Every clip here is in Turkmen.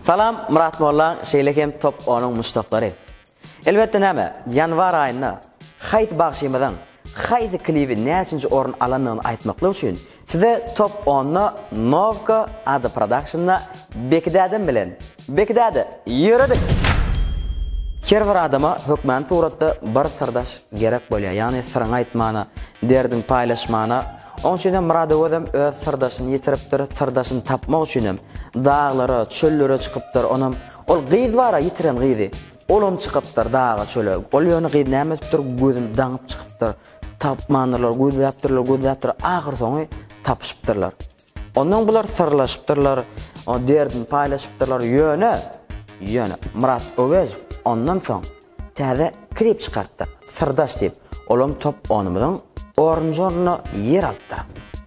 Salam Murat Molla, şeýle hem top onuň muşdaklary. Elbetde näme, ýanwar aýynda haýsy bagşymyzyň haýsy klibi näçinji orun alandygyny aýtmaklyk üçin Size top onda Novka ady prodakşnda Beki dädem bilen. Beki däde, ýöredik! Her bir adama hökmany suratda bir syrdaş gerek bolýar, ýagny syryňy aýtmana, derdiňi paýlaşmana. Oň üçin hem Myradygözem öz syrdaşyny ýitiripdir, syrdaşyny tapmak üçin hem daglara, çöllere çykypdyr, onam ol gyz bar-a ýitiren gyzy, olam çykypdyr daga-çöle. Ol ýöne gyz näme edipdir, gözüni daňyp çykypdyr. Tapmandyrlar, gözläpdirler, gözläpdirler, ahyrsoňy tapyşypdyrlar. Ondan bular syrlaşypdyrlar, o derdini paýlaşypdyrlar, ýöne, ýöne Myrat Öwezow ondan soň täze klip çykarypdyr, Syrdaş diýip. Olam top onumyzyň oranžorynda ýer alypdyr.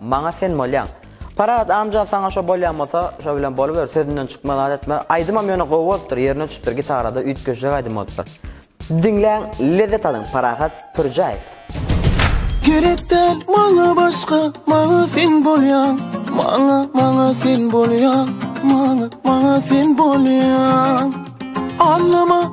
Maňa sen bolýaň. Parahat amja saňa şo bolýan bolsa, şo bilen boluber, sözünden çykma zat etme. Aýdymam ýöne gowy bolupdyr, ýerine çüpdür, gitarada üýtgeşjek aýdym bolupdyr. Diňläň, lezzet alyň, Parahat Pürjäýew. Gerek däl maňa başga, maňa sen bolýaň, maňa, maňa sen bolýaň, maňa, maňa sen bolýaň. Aňlama.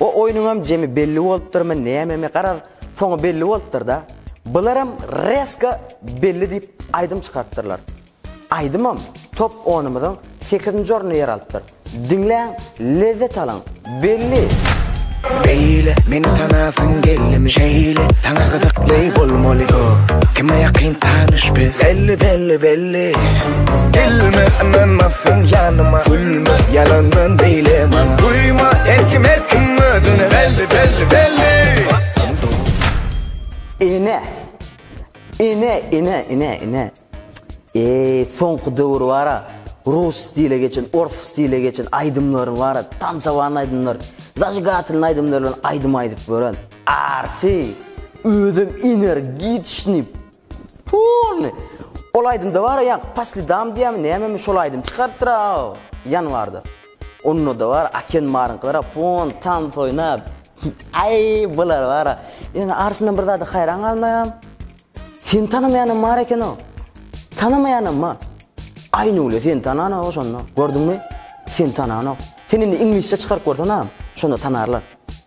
O oýnuňam jemi belli bolupdyrmy nämemi garaz soňy belli bolupdyrda Bularam reska belli diýip aýdym çykarypdyrlar Aýdymam top onumyzyň sekizinji ornunda ýer alypdyr Diňläň lezzet alyň Belli. Beýle meni tanasyň geldim şeýle Saňa gyzykly bolmaly oh Kime ýakyn tanyş biz Belli belli belli Gülme ynanmazsyn yanyma Gülme yalandan beyle bana Duyma her kim her kim özüne belli belli belli Ene Ene ene ene ene Eee soňky döwür bara Rus stile geçen, ors stile geçen aýdymlaryň bara tansawan aýdymlar, zajigateln aýdymlar bilen aýdym aýdyp gören. Arsi özüm energiçni Puuuuly ol aýdymda bara ýa pa slidam diýämi nämemi şol aýdym çykarypdyra ýanwarda ondada bara aken maryňkylara pon tans oýnap aý bular bara ýöne arşyndan bir zada haýran galmaýam seni tanamaýanam bar ekeno tanamaýanam bar aýnule seni tananok oşonda gördüňmi seni tananok sen indi iňlisçe çykaryp görsenaam şonda tanarlar.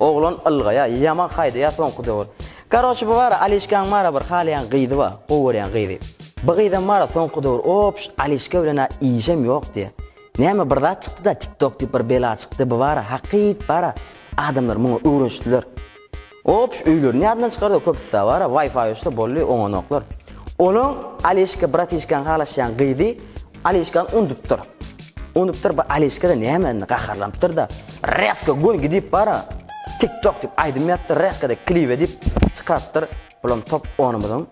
Oglan ylgaýa, ýaman haýdaýa soňky döwür. Karoçi bu bara Alişkaň bara bir halaýan gyzy ba, gowy görýän gyzy. Bu gyzam bara soňky döwür opş Alişka bilenä işem ýok diýä. Näme bir zat çykdyda tik tok diýip bir bela çykdy bu bara hakyt bara adamlar muňa öwrenişdiler. Opş öýlerini ýadyndan çykardy köpüsä bara wifi uçsa boldy oňanoklar. Olaň Alişka bratişkaň halaşýan gyzy Alişka undupdyr. Undupdyr bu Alişka-da näme indi gaharlanypdyr-da, Resko goýgy diýip bara, tik tok diýip aýdym ýapdyr, Resko-da klibe diýip çykarypdyr. Bulam top onumyzyň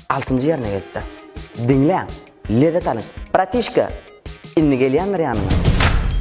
altynjy ýerine gelipdir. Diňläň, lezzet alyň. Bratişka, indi gelýändir ýanyňa.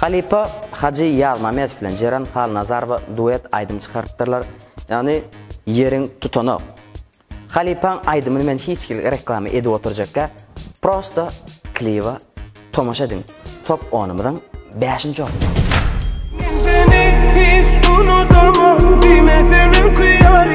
Halypa Hajy Ýazmamedow bilen Jeren Halnazarowa duet aýdym çykarypdyrlar, ýagny Ýeriň tutanok. Halypaň aýdymyny men hiç hili reklama edip oturjakka, prosta kliba tomaşa ediň. Top onumyzyň bäşinji orny. Men seni hiç unudaman, diýme sen öküýär.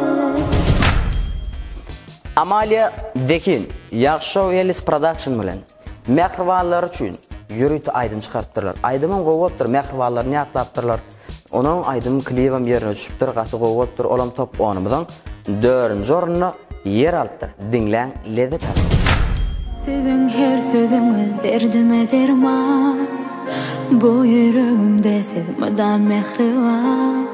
Amalia Dekin, Ýagşow Ellis Production bilen mähribanlary üçin ýörite aýdym çykarypdyrlar. Aýdymam gowy bolupdyr, mähribanlaryny ýatlapdyrlar. Onuň aýdym klibem ýerine düşüpdir, gaty gowy bolupdyr. Olam top onumyzyň dördünji ornunda ýer alypdyr. Diňläň, lezzet alyň! Siziň her sözüňiz derdime derman Bu ýüregimde siz mydam mähriban.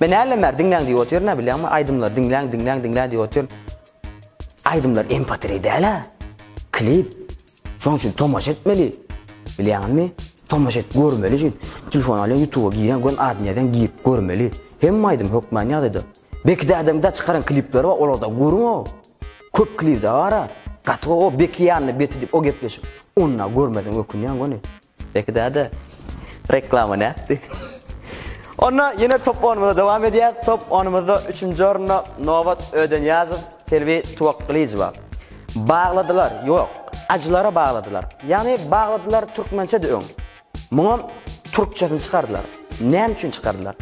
Men nälerim bäri diňläň diýip otyryn a bilýäňmi aýdymlary diňläň diňläň diňläň diýip otyryn aýdymlar empatiri däl a klip şonuň üçin tomaşa etmeli bilýäňizmi tomaşa et görmeli şu telefon alýaň ýutuba giräň göni adyny ýazýaň girip görmeli hemme aýdym hökmany ýagdaýda beki dädäň da çykaran klipleri bar olarda görüň o köp klipde bar a gaty o beki ýanyna beti diýip o gepleşik onda görmeseň ökünýäň göni. Beki däde, reklama nätdi? Onda ýene top oýnumyza dowam edýäs. Top oýnumyzda üçünji orunda Nobat Ödenýazow, Selbi Tuwakgylyjowa. Bagladylar, ýok, ajylara bagladylar. Ýagny bagladylar türkmençe-de öň. Muňam türkçesini çykardylar. Näme üçin çykardylar?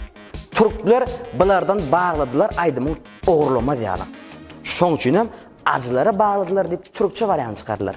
Türkler bulardan bagladylar aýdymyň ogurlamaz ýaly. Şoň üçinem ajylara bagladylar diýip türkçe barýanyny çykardylar.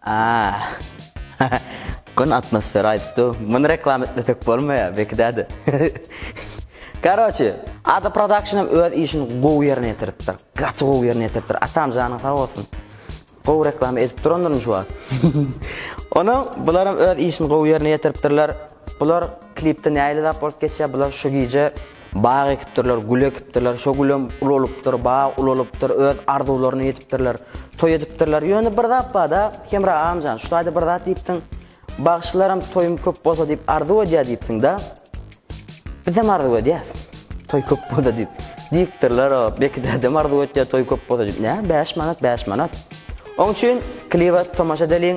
Aaa Gün atmosfera aýdyp dur. Muny reklam etmesek bolmaýar, bekidäde. Karoçi, Ada Production hem öz işini gowy ýerine ýetiripdir. Gaty gowy ýerine ýetiripdir. Atam janyň sag bolsun. Gowy reklama edip durandyr şu wagt. Onuň bular hem öz işini gowy ýerine ýetiripdirler. Bular klipde nähili zat bolup geçýär bular şu gije. Bag ekipdirler, gül ekipdirler, şo gülem ulalypdyr, bag ulalypdyr, öz arzuwlaryna ýetipdirler, toý edipdirler. Ýöne bir zat barda, Hemra agamjan, şu taýda bir zat diýipsiň, bagşylaram toýum köp bolsa diýip arzuw edýär diýipsiňda, bizem arzuw edýäs, toý köp bolsa diýip. Diýipdirler o, Beki dädem arzuw etýär toý köp bolsa diýip. Nä, bäş manat, bäş manat. Oň üçin kliba tomaşa edeliň.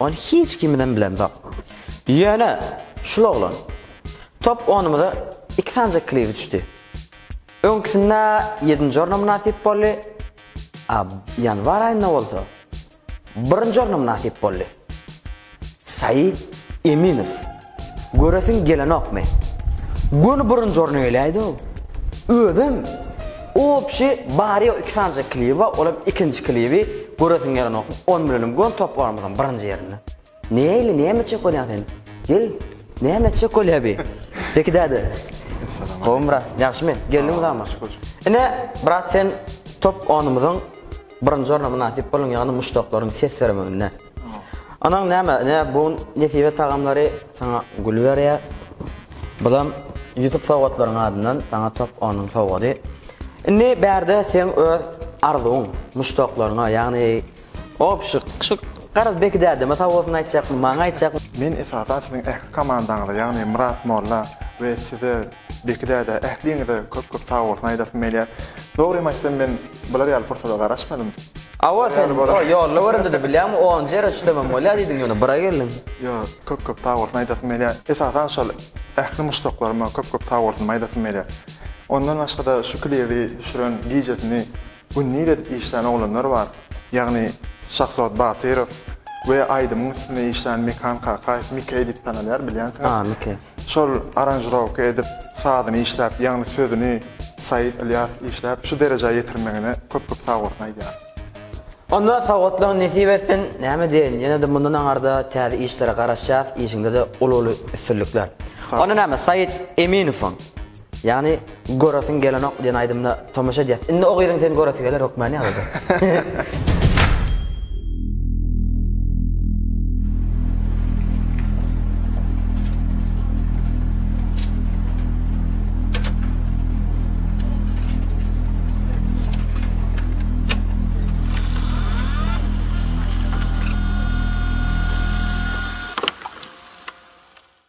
Ony hiç kimidem bilemzok. Ýöne, şul oglan. Top onumyza iki sanja kliri düşdi. Öňküsinde ýedinji orna mynasyp boldy, a ýanwar aýynda bolsa birinji orna mynasyp boldy. Said Eminow. Göresiň gelenokmy? Göni birinji orna geläýdi-ow. Özem Obşi bary-ýogy iki sanyjak klibi bar, olam ikinji klibi Göresiň gelenokmy? Ony bilenem göni toplarymyzyň birinji ýerinde. Neili, näme etjek bolýaň sen? Gel, näme etjek bolýa bi? Beki däde. Salam. Gowymy brat, ýagşymy? Geldiňmi zama? Şükür. Ine, brat sen top onumyzyň birinji orna mynasyp boluň, ýagny muşdaklaryň ses bermeginde. Anaň näme, ne bu gün nesibe tagamlary saňa gül berýär. Bulam Ýusup sowgatlaryň adyndan saňa top onuň sowgady. Indi bärde seň öz arzuwyň, muşdaklaryňa, ýagny obşyk, şu garaz Beki dädeme sowgadyny aýtjakmy, maňa aýtjakmy? Men esasan siziň ähli komandaňyza, ýagny Myrat molla we size Beki däde ähliňize köp köp sag bolsun aýdasym gelýär. Dogrymy aýtsam men bular ýaly pursada garaşmadym. Hawa sen o ýolla göründide bilýäňmi onunjy ýere üçlemem bolýa diýdiň ýöne bura geldiň. Ýok köp köp sag bolsun aýdasym gelýär. Esasan şol ähli muşdaklaryma köp köp sag bolsun aýdasym gelýär. Ondan başgada şu klibi düşüren gijesini. Gündiz edip işlän oglanlar bar. Ýagny Şahsuwat Batyrow we aýdymyň üstünde işlän Mekan Kakaýew, Mike diýip tanalýar, bilýänsiňiz. A, Mike. Şol aranžirowka edip, sazyny işläp, ýagny sözüni Said Ylýasow işläp, şu derejä ýetirmegine köp-köp sagbolsun aýdýaryn. Onda sowgatlaň nesip etsin, näme diýeýin, ýene-de mundan aňarda täze işlere garaşýas, işiňde-de uly-uly üstünlikler. Onda näme, Said Eminowyň Ýagny Göresiň gelenok diýen aýdymyna tomaşa edýäs. Indi o gyzyň seni göresi geler hökmany ýagdaýda.